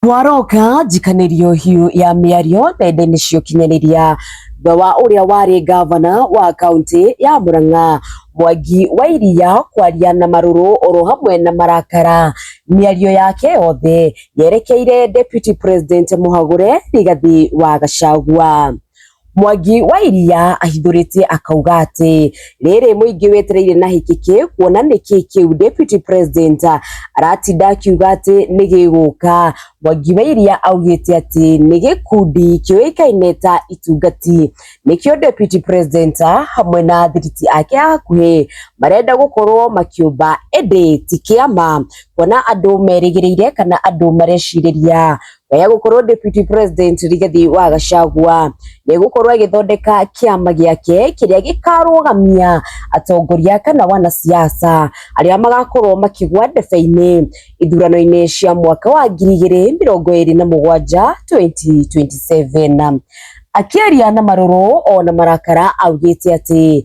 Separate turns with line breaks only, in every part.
Waroka njikanerio hiu ya miario nenda-ini cia ukinyaniria thutha wa uria wari ngavana wa kaunti ya Murang'a Mwangi wa Iria kwaria na maruru oro hamwe na marakara. Miario yake yothe yerekeire Deputy President Muhagure Rigathi wa Gachagua. Mwangi wa Iria ahithũrĩtie akauga atĩ rĩrĩ mũingĩ wetereire na hĩkĩkĩ kuona nĩkĩ kĩu Deputy President aratinda akiuga atĩ nĩ gĩgũka. Mwangi wa Iria augĩte atĩ nĩ gĩkundi kĩũĩkaine ta Itungati nĩkĩo Deputy President hamwe na thiriti ake a hakuhĩ marenda gũkorwo makĩũmba ĩndĩ ti kĩama kuona andũ merĩgĩrĩire kana andũ marecirĩria ya gũkorwo deputy president Rigathi wa Gachagua nĩ gũkorwo agĩthondeka kĩama gĩake kĩrĩa gĩkarũgamia atongoria kana wanasiasa arĩa magakorwo makĩgwa ndebe-inĩ ithurano-inĩ cia mwaka wa ngiri igĩrĩ mĩrongo ĩrĩ na mũgwanja 2027 akĩaria na marũrũ ona marakara augĩte atĩ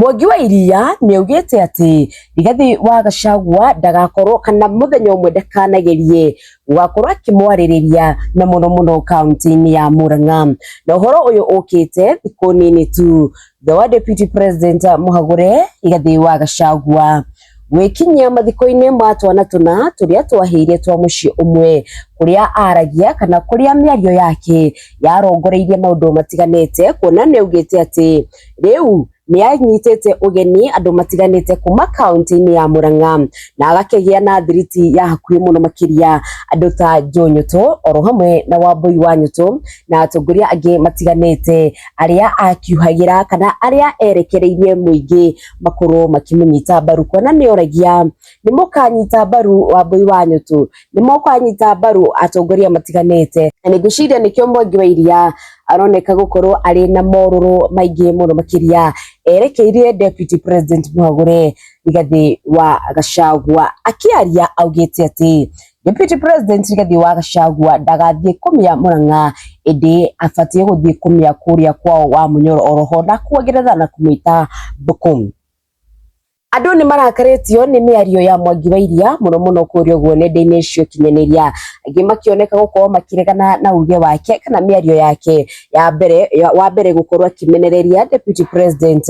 Mwangi wa Iria nĩaugĩte atĩ Rigathĩ wa Gachagua ndagakorwo kana mũthenya ũmwe ndakanagerie gũgakorwo akĩmwarĩrĩria na mũno mũno kaũntĩ-inĩ ya Mũrang'a. Na ũhoro ũyũ ũkĩte thikũ nini tu thutha wa Deputy President amũhagũre Rigathĩ wa Gachagua. Gwĩkinyia mathiko-inĩ ma twana tũna tũrĩa twahĩire twa mũciĩ ũmwe kũrĩa aragia kana kũrĩa mĩario yake yarongoreirie maũndũ matiganĩte kuona nĩ augĩte atĩ rĩu nĩ anyitĩte ũgeni andũ matiganĩte kuma kaũntĩ-inĩ ya Mũrang'a na agakĩgĩa na thiriti ya hakuhĩ mũno makĩria andũ ta Joe Nyũtũ oro hamwe na Wambũi wa Nyũtũ na atongoria angĩ matiganĩte arĩa akiuhagĩra kana arĩa erekereirie mũingĩ. makorwo makĩmũnyita mbaru kuona nĩ oragia nĩ mũkanyita mbaru wambũi wa nyũtũ nĩ mũkanyita mbaru atongoria matiganĩte na nĩ ngwĩciria nĩkĩo mwangi wa iria aroneka gũkorwo arĩ na morũrũ maingĩ mũno makĩria erekeire deputy president mũhagũre rigathĩ wa gacagua akĩaria augĩte atĩ Deputy President Rigathi wa Gachagua ndagathiĩ kũmĩa Mũrang'a ĩndĩ abatiĩ gũthiĩ kũmĩa kũrĩa kwao wa Mũnyoro oroho na kuongerera na kũmĩta Mbũkũ. Andũ nĩ marakarĩtio nĩ mĩario ya Mwangi wa Iria mũno mũno kũrĩa ũguo nenda-inĩ cia ũkinyanĩria, angĩ makĩoneka gũkorwo makĩregana na uge wake kana mĩario yake ya mbere ya- wa mbere gũkorwo akĩmenereria Deputy President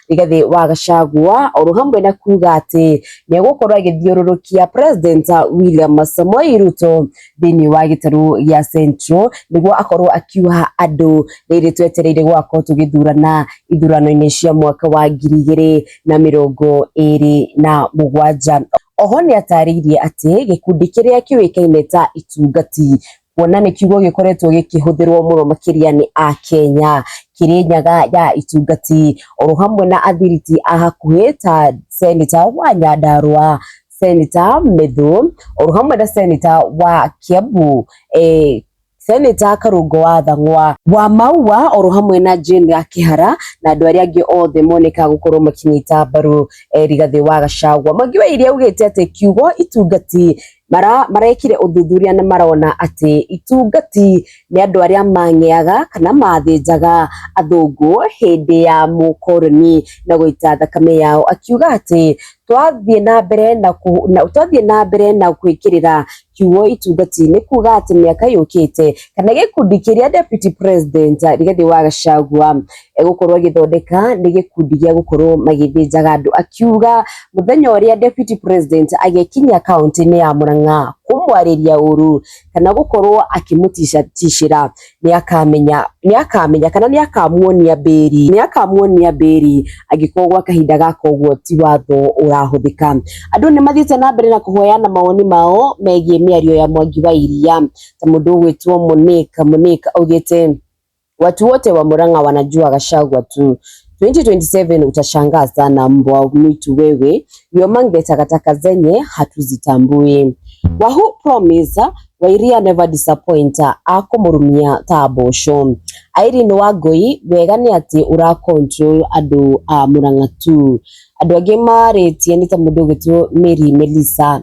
Rigathi wa Gachagua oro hamwe na kuga atĩ nĩ egũkorwo agĩthiũrũrũkia President William Samoei Ruto thĩinĩ wa gĩtarũ gĩa Central nĩguo akorwo akiuha andũ rĩrĩ twetereire gũgakorwo tũgĩthurana ithurano-inĩ cia mwaka wa ngiri igĩrĩ na mĩrongo ĩrĩ na mũgwanja. Oho nĩ atarĩirie atĩ gĩkundi kĩrĩa kĩũĩkaine ta Itungati kuona nĩ kiugo gĩkoretwo gĩkĩhũthĩrwo mũno makĩria nĩ Akenya. Kĩrĩnyaga ya itungati oro hamwe na athiriti a hakuhĩ ta seneta wa Nyandarũa, seneta Methũ oro hamwe na seneta wa Kiambu eh, seneta Karungo wa Thang'wa wa Maua oro hamwe na Jane ya Kĩhara na andũ arĩa angĩ othe moneka gũkorwo makĩnyita mbaru eh, Rigathĩ wa Gachagua. Mwangi wa Iria augĩte atĩ kiugo itungati mara marekire ũthuthuria nĩ marona atĩ itungati nĩ andũ arĩa mang'eaga kana mathĩnjaga athũngũ hĩndĩ ya mũkoroni na gũita thakame yao akiuga atĩ twathiĩ na mbere na kũ- na- twathiĩ na mbere na gwĩkĩrĩra kiugo itungati nĩ kuga atĩ mĩaka yũkĩte kana gĩkundi kĩrĩa deputy president Rigathĩ wa Gachagua egũkorwo agĩthondeka nĩ gĩkundi gĩa gũkorwo magĩthĩnjaga andũ akiuga mũthenya ũrĩa deputy president agĩkinya kaunti-inĩ ya Murang'a kũmwarĩria ũru kana gũkorwo akĩmũticacicĩra nĩ akamenya nĩ akamenya kana nĩ akamuonia mbĩri nĩ akamuonia mbĩri angĩkorwo gwa kahinda gaka ũguo ti watho ũrahũthĩka andũ nĩ mathiĩte na mbere na kũhoyana mawoni mao megiĩ mĩario ya Mwangi wa Iria ta mũndũ ũgwĩtwo Mũnĩka Mũnĩka augĩte Watu wote wa Murang'a wanajua Gachagua tu. 2027 utashangaa sana, mbwa mwitu wewe. You among the takataka zenye hatuzitambui. Wahoo promise Wairia never disappoint akumurumia ta mboco. Irene Wangui wega nĩ atĩ ũra control andũ a Murang'a tu. Andũ angĩ marĩtie nĩ ta mũndũ ũgĩtwo Mary Melissa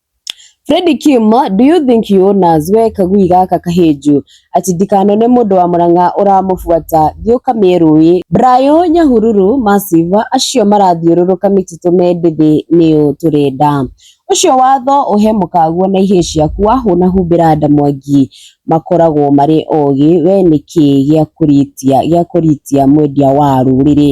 Freddy Kim, do you think he owners we kagui gaka kahĩnju ati ndikanone mũndũ wa mũrang'a ũramũbuata thiĩ ũkamĩe rũĩ Brayo Nyahururu massive acio marathiũrũrũka mĩtitũ me ndĩthĩ nĩũ tũrenda ũcio watho ũhe mũkaguo na ihĩĩ ciaku wahũna humbĩra nda mwangi makoragwo marĩ ogĩ we nĩkĩ gĩa kũritia gĩa kũritia mwendia wa rũrĩrĩ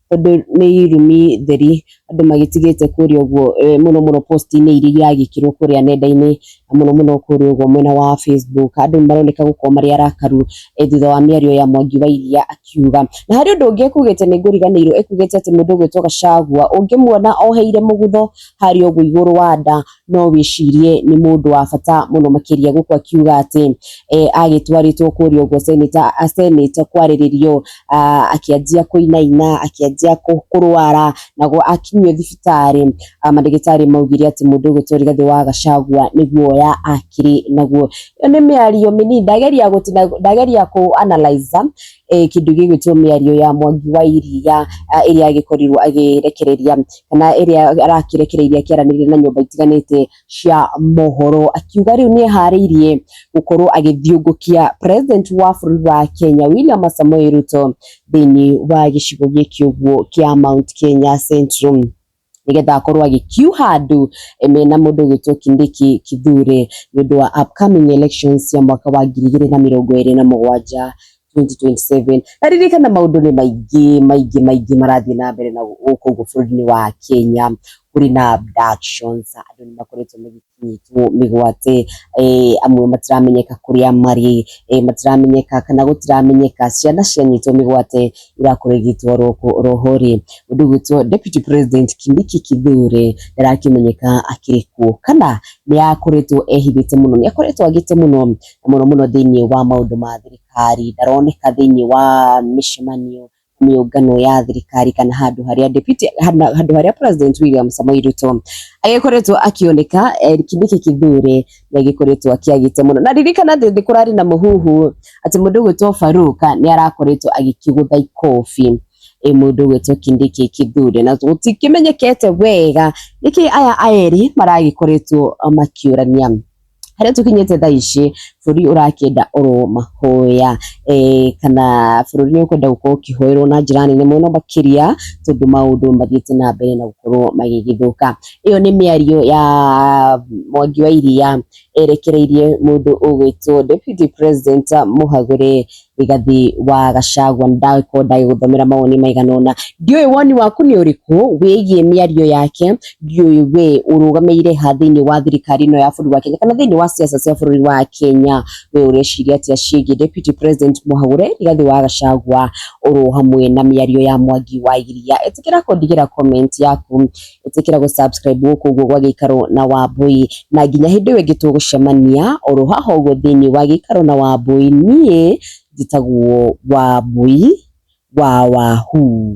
tondũ nĩ irumi theri andũ magĩtigĩte kũrĩa ũguo eh, mũno mũno post-inĩ iria iragĩkĩrwo kũrĩa nenda-inĩ na mũno mũno kũrĩa ũguo mwena wa Facebook andũ nĩ maroneka gũkorwo marĩ arakaru eh, thutha wa mĩario ya Mwangi wa Iria akiuga na harĩ ũndũ ũngĩ ekugĩte nĩ ngũriganĩirwo ekugĩte atĩ mũndũ ũgwĩtwo Gachagua ũngĩmuona oheire mũgutho harĩa ũguo igũrũ wa nda no wĩcirie nĩ mũndũ wa bata mũno makĩria gũkũ akiuga atĩ eh, agĩtwarĩtwo kũrĩa ũguo seneta senate kwarĩrĩrio ah, akĩanjia kũinaina akĩanjia kũ- kũrwara naguo akinyio thibitarĩ ah, mandagĩtarĩ maugire atĩ mũndũ ũyũ Tori Gathĩ wa Gachagua nĩ guoya akĩrĩ naguo ĩyo nĩ mĩario mĩnini ndageria gũtina ndageria kũ analyze eh, kĩndũ gĩgwĩtwo mĩario ya mwangi wa iria ah, ĩrĩa agĩkorirwo agĩrekereria kana ĩrĩa arakĩrekereirie akĩaranĩria na nyũmba itiganĩte cia mohoro akiuga rĩu nĩ eharĩirie gũkorwo agĩthiũngũkia president wa bũrũri wa Kenya William Samoei Ruto thĩinĩ wa gĩcigo gĩkĩ ũguo kĩa Mount Kenya Central. nĩgetha akorwo agĩkiuha andũ eh, mena mũndũ ũgwĩtwo Kindiki Kithure nĩ ũndũ wa upcoming elections cia mwaka wa ngiri igĩrĩ na mĩrongo ĩrĩ na mũgwanja 2027 na ririkana maũndũ nĩ maingĩ maingĩ maingĩ marathiĩ na mbere na gũkũ ũguo bũrũri-inĩ wa Kenya kũrĩ na abductions andũ nĩ makoretwo magĩ kũnyitwo mĩgwate, amwe matiramenyeka kũrĩa marĩ, matiramenyeka kana gũtiramenyeka ciana cianyitwo mĩgwate irakorwo igĩtwarwo kũ roho rĩ, ũndũ ũgwĩtwo Deputy President Kindiki Kithure ndarakĩmenyeka akĩrĩ kuo, kana nĩ akoretwo ehithĩte mũno, nĩ akoretwo agĩte mũno, mũno mũno thĩinĩ wa maũndũ ma thirikari, ndaroneka thĩinĩ wa mĩcemanio, mĩũngano ya thirikari kana handũ harĩa deputy hana- handũ harĩa president William Samoei Ruto agĩkoretwo akĩoneka eh, nĩkĩ kĩthure na gĩkoretwo akĩagĩte mũno na ririkana atĩ nĩ kũrarĩ na mũhuhu atĩ mũndũ ũgwĩtwo Faruka nĩ arakoretwo agĩkĩgũtha ikobi ĩ mũndũ ũgwĩtwo Kindiki Kithure na gũtikĩmenyekete wega nĩkĩ aya erĩ maragĩkoretwo makĩũrania harĩa tũkinyĩte thaa ici bũrũri ũrakĩenda oro mahoya eh, kana bũrũri nĩ ũkwenda gũkorwo ũkĩhoerwo na njĩra nene mũno makĩria tondũ maũndũ mathiĩte na mbere na gũkorwo magĩgĩthũka ĩyo nĩ mĩario ya mwangi wa iria erekereirie mũndũ ũgwĩtwo deputy president mũhagũre Rigathi wa Gachagua ndagĩkorwo ndagĩgũthomera mawoni maigana ũna ndiũĩ woni waku nĩ ũrĩkũ wĩgiĩ mĩario yake ndiũĩ we ũrũgamĩire ha thĩinĩ wa thirikari ĩno ya bũrũri wa Kenya kana thĩinĩ wa siasa cia bũrũri wa Kenya we ũreciria atĩa ciĩgiĩ deputy president Mũhagũre Rigathi wa Gachagua oro hamwe na mĩario ya Mwangi wa Iria ĩtĩkĩra kũndigĩra comment yaku. ĩtĩkĩra gũ subscribe gũkũ ũguo gwa gĩikaro na wambũi na nginya hĩndĩ ĩyo ĩngĩ tũgũcemania oro haha ũguo thĩinĩ wa gĩikaro na wambũi niĩ njĩtagwo wambũi wa wahuu